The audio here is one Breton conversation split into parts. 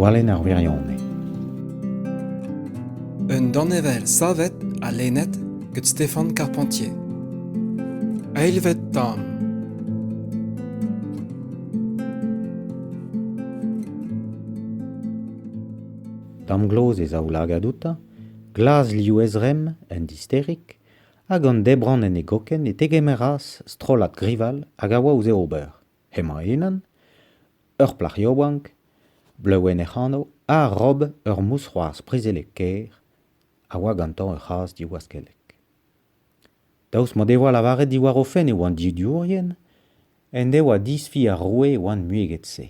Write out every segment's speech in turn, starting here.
Gwalenn ar wirionez. Un danevell savet ha lennet gant Stéphane Carpentier. Eilvet tamm. Damgloz e zaoulagad outañ, glas liv ezremm, en disterig, Hag an debrann en e gokenn e tegemeras strollad grival hag a oa ouzh e ober. Hemañ-unan, ur plac'h yaouank, bleuenn hec'h anv ha rob ur mousc'hoarzh prizelek kaer, a oa gantañ ur c'hazh diwaskellek. Daoust m'o devoa lavaret diwar o fenn e oant didiourien, en devoa disfi ar roue e oant muiget-se,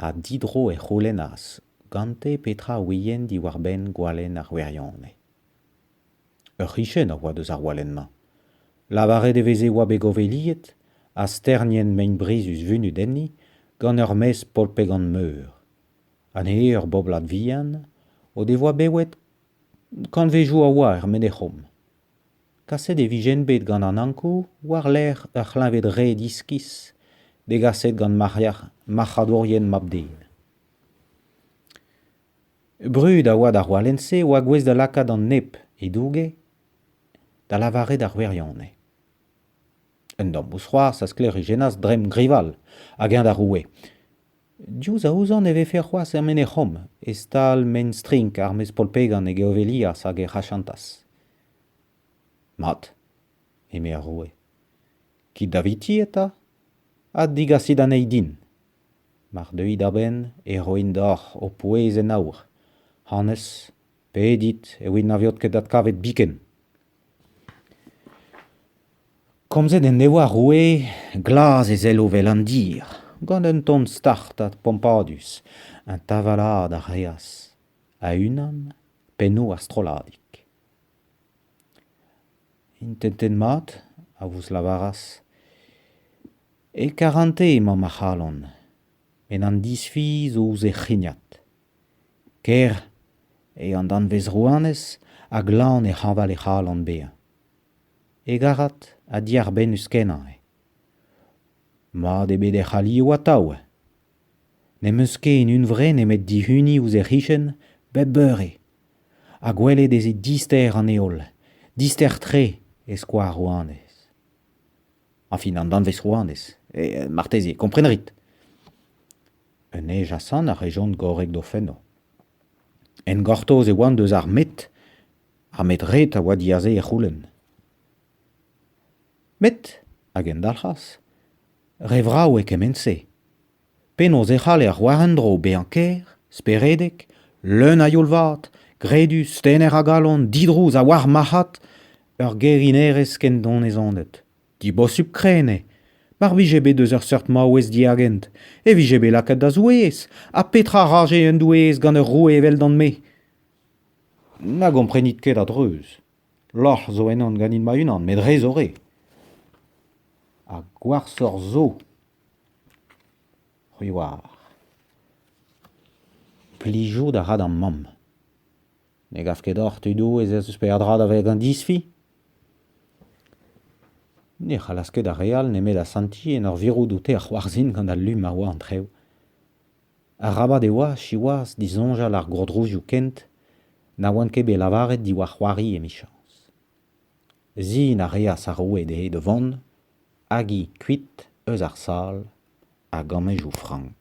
ha didro e c'houlennas gante petra a ouient diwar-benn gwalenn ar wirionez. Ur c'hichen a oa deus ar walenn-mañ. Lavaret e veze e oa bet goveliet ha sternienn mein-brizus vunut enni gant ur maez polpegant-meur. Anezhe ur boblad vihan o devoa bewet kantvezioù a oa er Menec'hom. Kaset e vijent bet gant an Ankou war-lerc'h ur c'hleñved-red iskis degaset gant marc'hadourien mab-den. Brud a oa d'ar walenn-se a oa gouest da lakaat an nep he douge da lavaret ar wirionez. Un damm mousc'hoarzh a sklêrijennas dremm Grival hag eñ d'ar roue. Diouzh a ouzan e vefe c'hoazh er Menec'hom e-stal maen-strink ar maez polpegan e geovelias hag ec'h achantas. Mat, eme ar roue. Kit daviti eta ha digasit anezhi din. Mar deuit a-benn e roin deoc'h ho pouez en aour. Honnezh, pedit e ouiet na veot ket adkavet biken. Komzet en devoa roue glas e sello 'vel an dir, gant un ton start ha pompadus. Un tavalaat a reas, a-unan, pennoù ar strolladig. Intentet mat, a vouezh lavaras. E karante emañ ma c'halon, met an disfi zo ouzh he c'hrignad. Ker eo an danvez-rouanez ha glan e hañval he c'halon bezañ. E garrad ha diarbennus-kenañ eo. Mat eo bet hec'h alioù atav. N'em eus ket en hunvre nemet dihuniñ ouzh he c'hichen bep beure ha gwelet ez eo dister an heol, dister-tre e skoaz rouanez. Añfin an danvez rouanez, marteze, kompren a rit. Un eil-jasan a rejont gorrek d'o fenno. En gortoz e oant eus ar met, ar met ret a oa diaze e c'houlenn. Met, a gendalc'has, re vrav eo kement-se. Penaos e c'halle ar c'hoar en-dro bezañ ker, speredek, leun a youl-vat, gredus, tener a galon, didrouz ha war marc'had ur gerinerez ken donezonet. Dibosupl-krenn eo. Mar vije bet eus ur seurt maouez diagent, e vije bet lakaet da zoueez. Ha petra a raje un doueez gant ur roue eveldon-me ? Na gomprenit ket a-dreuz. Lorc'h zo ennon ganin ma-unan met re zo re. Ha gwashoc'h zo. C'hwi oar. Plijout a ra d'am mamm. Ne gav ket deoc'h tudoù ez eus peadra da vezañ disfi ? Ne c'hallas ket ar re all nemet asantiñ en ur virout oute ar c'hoarzhin gant al lu ma oa an trev. Arabat e oa, siwazh, disoñjal ar gourdrouzioù kent na oant ket bet lavaret diwar c'hoari emichañs. Sin a reas ar roue dezhe da vont, hag hi kuit eus ar sal, a gammejoù frank.